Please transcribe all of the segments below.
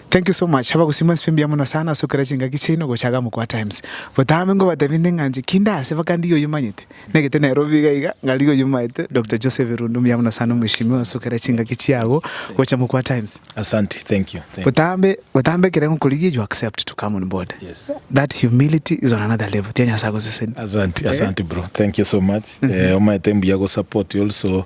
Thank you so much abagusii mwensi pi mbuya mono sana ase okera chingaki chiaino gocha iga mokwa times botambe ngobatebie nde ng'a inche kinde ase mpaka ndigie oyio manyete negete Nairobi iga iga ngarigia oyio maete Doctor Joseph Irundu mbuya mono sana mweshimiwa ase okera chingaki chiago gocha mokwa times Asante, thank you, thank you. botambe botambe ekere ngokorigia you accept to come on board Yes. that humility is on another level tia Nyasaye agoseseni Asante, asante bro, thank you so much. Eh, omaete mbuya gosupport also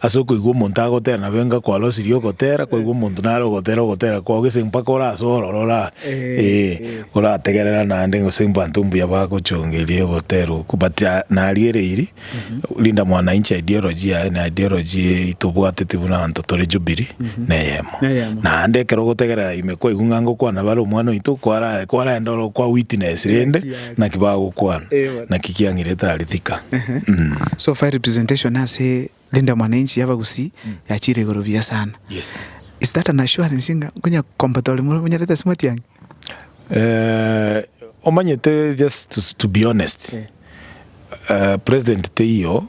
Ase okoigwa omonto agotera nabo enga kwarosirie ogotera, kwaigwa omonto nare ogotera ogotera kwao gese mpaka orase ororo ora ee orategerera naende gose abanto mbuya bagochongeria ogotera okwo but nariereiri Linda mwana inche ideology yaye na ideology eye tobwateti buna abanto tore Jubilee neyemo Neyemo. naende ekero ogotegerera ime kwaigwa ng'a ngokwana bare omwana oito kwara kwarenda oro kwa witness rende Naki bagokwana? Naki kiang'irete are thika? Mh. So far representation ase Linda Mwananchi y'abagusii yachire igoro buya sana. Yes. Is that an assurance ng'a nkonya combat ore more monyarete ase matiang'i? Eh, omanyete just to, to be honest. Eh, President teiyo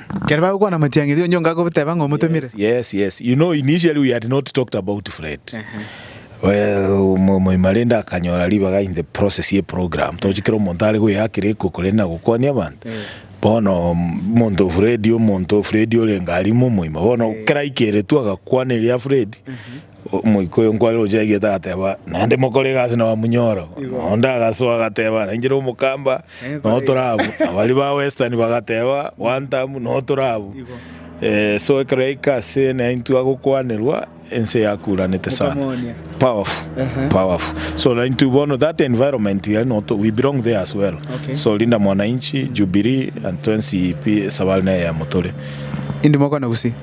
Ekero bagokwana motiangeria onyio onga agoteba ng'a omotomire. Yes, yes. You know, initially we had not talked about Fred. Well, mo- moimarende akanyora ribaga in the process ye program tochi kera omonto are goyakera eko korende na gokwania abanto bono mm, omonto Fred omonto Fred orenge arimo omoima bono kera aikeretwe agakwana eria Fred Omoika oyo nkware gochia aigete agateba, Naende mokore egasi na bamunyora. Nao onde agasoa agateba, Nainche nomokamba, nao tore abwo. Na baria ba Western bagateba, One time, nao tore abwo. Eh, so ekero yaika ase naintwe agokwanerwa, ense yakuranete sana. Mokamoonia. Powerful, Ehe. powerful. So naintwe bono that environment iga no to- we belong there as well. Okay. So Linda Mwananchi, Jubilee and Twensi Pi esabari neyemo tore. Indi mokwana gusii.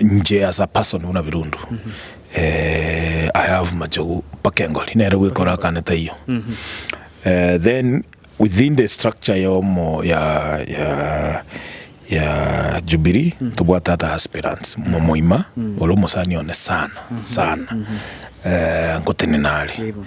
Inche as a person buna Birundu eh, I have Machogu mpaka Engori nere gwekora akane taiyo eh, then within the structure ya omo ya ya ya Jubilee tobwate ata aspirants mo moima ore omosani one sana sana eh, ngotenena are Yebo.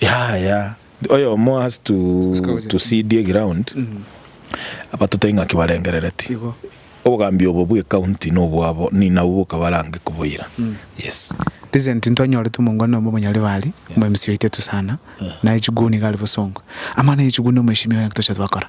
Yaya, oyomo has to to see die ground abatote ing'aki barengerereti. Obogambi obo bwe county nobwabo ni nabo bokabarange koboira. Yes. Recent ntwanyorete omongwana omo Monyaribari, omo MC oito etusana, naye chiguni iga are bosongo. Amang'ana ye chiguni omoeshimiwa, ng'aki toche twakora?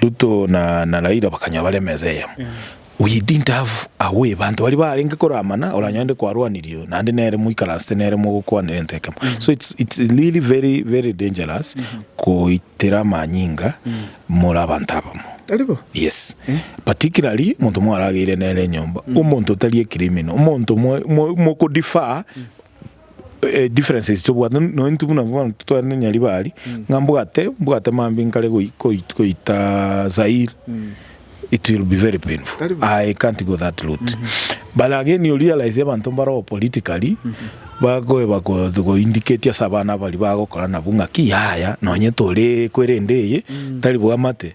Ruto na na Raila bakanyora bare emesa eyemo. We didn't have a way banto baria barenge koramana oranyore nde kwarwanirio naende nere moikaransete nere mogokwanera ento ekemo. So it's it's really very very dangerous goitera amanyinga more abanto abamo. Tari bo? Yes. Particularly omonto mwarageire nere enyomba, omonto otari a criminal, omonto mwe mwe moko defer Differences tobwate no intwe buna bono titware ne Nyaribari ng'a mbwate mbwate mambia nkare goita Zaire it will be very painful I can't go that route but again you realize abanto mbaroo politically bakoeba go indicate ase abana baria bagokora nabwo ng'a ki yaya nonye tore kwerende eye tari bwamate.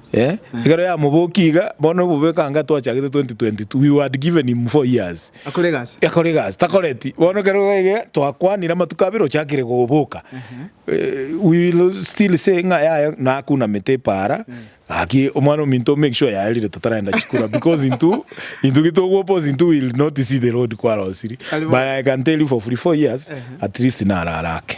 Eh, ekero yamobokia iga, bono obobe ekanga twachagete 2022, we wad given him four years. Akore egasi. Akore egasi, takoreti. Bono ekero iga iga, twakwanire amatuko abere ochakire goboka. Eh, we will still say ng'a yaya nakunamete epaara, gaki omwana ominto make sure yaerire totarenda chikura because intwe, intwe gitogwoposa intwe will not see the road kwarosirie. Kare bono. But I can tell you for free four years, at least narara ake.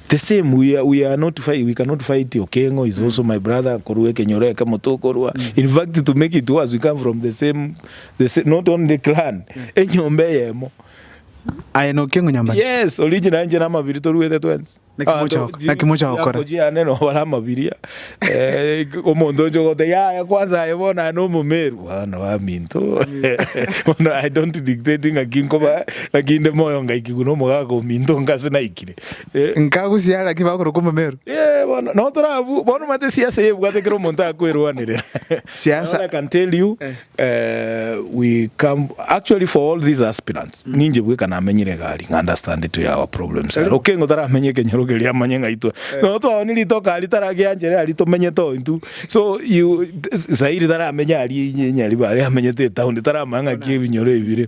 The same we are, we are not fight, we cannot fight Okengo is also my brother korwa ekenyoro ekemo tokorwa in fact to make it worse we come from the same the same, not only clan enyomba eyemo Aye na Okengo nyambani. yes original inche na mabiri toruete twensi Naki mocha goko- naki mocha gokora? kochiane nobare amabiria Eh, omonto oche ogote yaya kwanza aye bono aye nomomeru bono baminto bono i don't dictate ng'aki nkoba ng'aki inde moyo ngaikigwa nomogaka ominto nka ase naikire Nkagusia ara ki bakorokwa omomeru? Ee, bono, no torabu, bono omanyete esiasa eye ebwate kera omonto akoerwanera. Now Siasa. all I can tell you, Eh. eh, we come, actually for all these aspirants, ninche bweka namenyire egari, ng'a understand to our problems. Ere Okengo taramenye ekenyoro keria amanye ng'a itwe, no twao ni ritoka aria tara gianchere aria tomenyete oo intwe. So you, Zaire taramenya aria inye Nyaribare amenyete etown, taramanya ng'a ki ebinyoro ebi bire.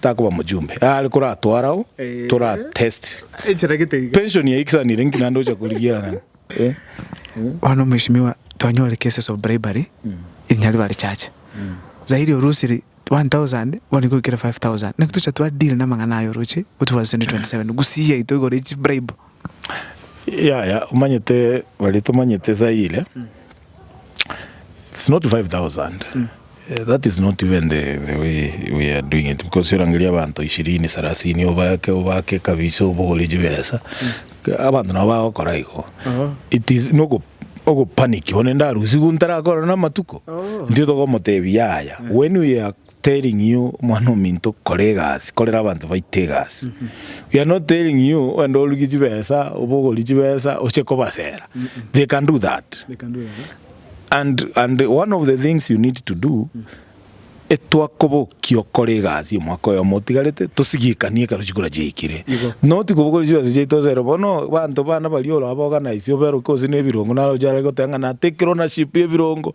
Takoba mojumbe are koratware ao tora test pension yaye kisanire nki nande ocha korigia ng'a eh. Bono mweshimiwa twanyore cases of bribery in Nyaribari church zaidi orusiri 1000 bono igoikire 5000 naki tocha twa deal namang'ana aye oroche go towards 2027 gusii yaito igoro echi bribe Yaya omanyete baria tomanyete esayire it's not 5000 that is not even the the way we are doing it because orangeria abanto ishirini sarasini obake obake kabisa obore chibesa abanto nabo bagokora igo it is nogo ogo panic bono ende arusigwe ntarakore na amatuko intwe togomotebi yaya when we are Telling you, Omwana-o-minto, kora egasi, korera abanto baito egasi. We are not telling you ogende orugie chibesa, obogorie chibesa, oche kobasera. They can do that. And, and one of the things you need to do, etwakobokia okore egasi omwaka oyomo otigarete, tosigikanie ekero chikura chiaikire. Not kobogoria chibesa chiaito osere bono, abanto bana baria ore abaorganise oberoke gose na ebirongo naro oche are goteba ng'a natekire ownership y'ebirongo,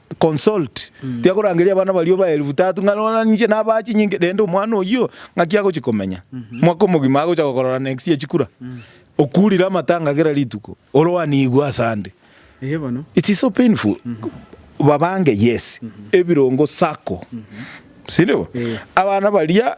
Consult, tiakorangeria abana baria obae elfu tatu ng'a rora ninche nabaa chinyinki rende omwana oyio ng'aki agochia komenya mwaka omogima agocha gokorora next year chikura. Okurire amatanga kera rituko ore oanigwe ase ande. Eye bono. It is so painful. Babange yes, ebirongo sacco sindibo? Abana baria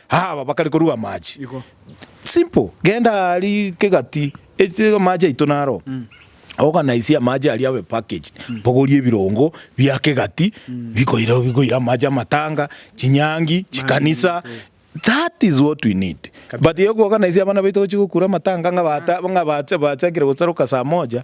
Aba bakare koruga amache. Simple. Genda ari kegati eche amache aito naro. Organize amache aria abe packaged. Bogorie ebirongo bia kegati bikoira bikoira amache amatanga, chinyangi, chikanisa. That is what we need. But yo ku organize abana baito gochi gokura amatanga ng'a bata ng'a bacha bachakire gosaroka saa moja.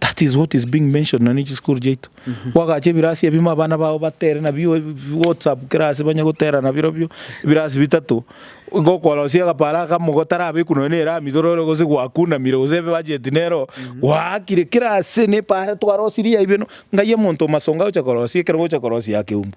That is what is being mentioned nonya ne chisukuru chiaito. Gwagacha ebirasi ebimo abana bao batere nabio ebi- bi- WhatsApp kera ase banye gotera nabirobio, ebirasi bitato. Igo okorosia agaparo akamo gotarabekwa nonya ne erami igoro ero gose gwakunamire gose ebebacheti nero gwaakire kera ase nepara twarosirie aye beno, ng'ai omonto omasonga agocha korosia ekero ogocha korosia akeumbu.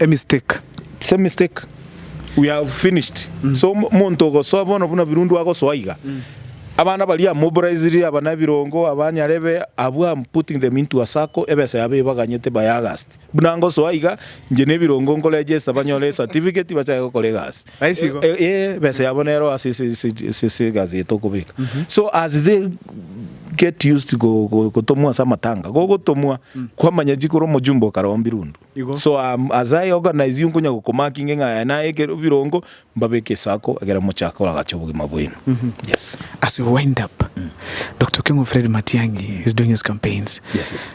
a mistake. It's a mistake. We have finished. Mm. So monto ogosoa bono buna birundu agosoa iga. Mm. Abana bari amobilized abana birongo abanyarebe abu am putting them into a circle ebesa yabo ibaganyete by August. Buna ngosoa iga nje ne birongo ngo register banyore certificate bachake gokora egasi. Nice igo. Ee, besa yabo nero ase ase ase ase ase egasi yaito okobeka. So as they get used go- go- gotomwa ase amatanga, gogotomwa, kwamanya chi kore omojumbe okarombi rundu. Igo. So um, as I organize you nkonya gokomarkinge ng'a aya naye ekero birongo, mbabeke esako ekero mochaka koragache obogima bwaino. Yes. As we wind up, Doctor Okengo Fred Matiang'i is doing his campaigns. Yes, yes.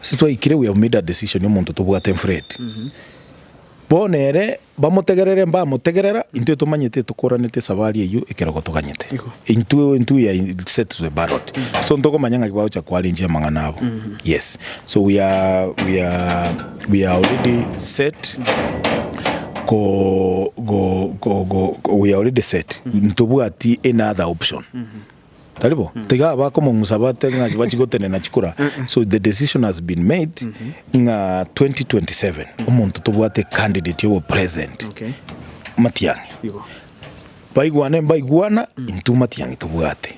Ase twaikire we have made a decision omonto tobwate Fred. Bono ere bamotegerere mbamotegerera intwe tomanyete tokoranete esabari eyio ekero gotoganyete. Igo. Intwe intwe we are set to the ballot. So ntokomanya ng'aki bagocha ko arrange amang'ana abo. Yes. So we are we are we are already set ko go go go we are already set. Ntobwati any other option. Tari bo? Tiga abakomong'usa batebe ng'a chibachi gotenena chikura. So the decision has been made ng'a 2027 omonto tobwate candidate obo president. Okay. Matiang'i. Igo. Baigwane mbaigwana intwe Matiang'i tobwate.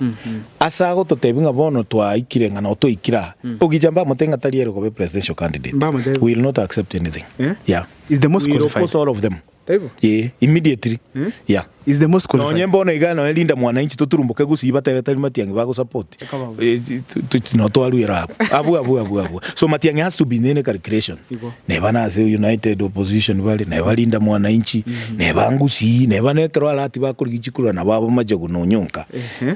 Ase agototebi ng'a bono twaikire ng'a nao twaikire aa. Ogicha mbamotebie ng'a tari ere kobe presidential candidate. Mbamotebie. We will not accept anything. Eh? Yeah. Is the most We will qualified. oppose all of them. Taibo? Ee, immediately. Yeah. Is the most qualified. Nonye bono iga nonye Linda Mwananchi toturumboke gusii batebe tari Matiang'i bagosupport. Ekabao. Eh, ti- tu- tu- ti- no twaruera abwo. Abwo, abwo, abwo, abwo. So Matiang'i has to be in any calculation. Igo. Neba nase united opposition bare, neba Linda Mwananchi, neba ngusii, neba nekero arati bakorigia chikurura nabo abo machogu nonyonka. Ehe.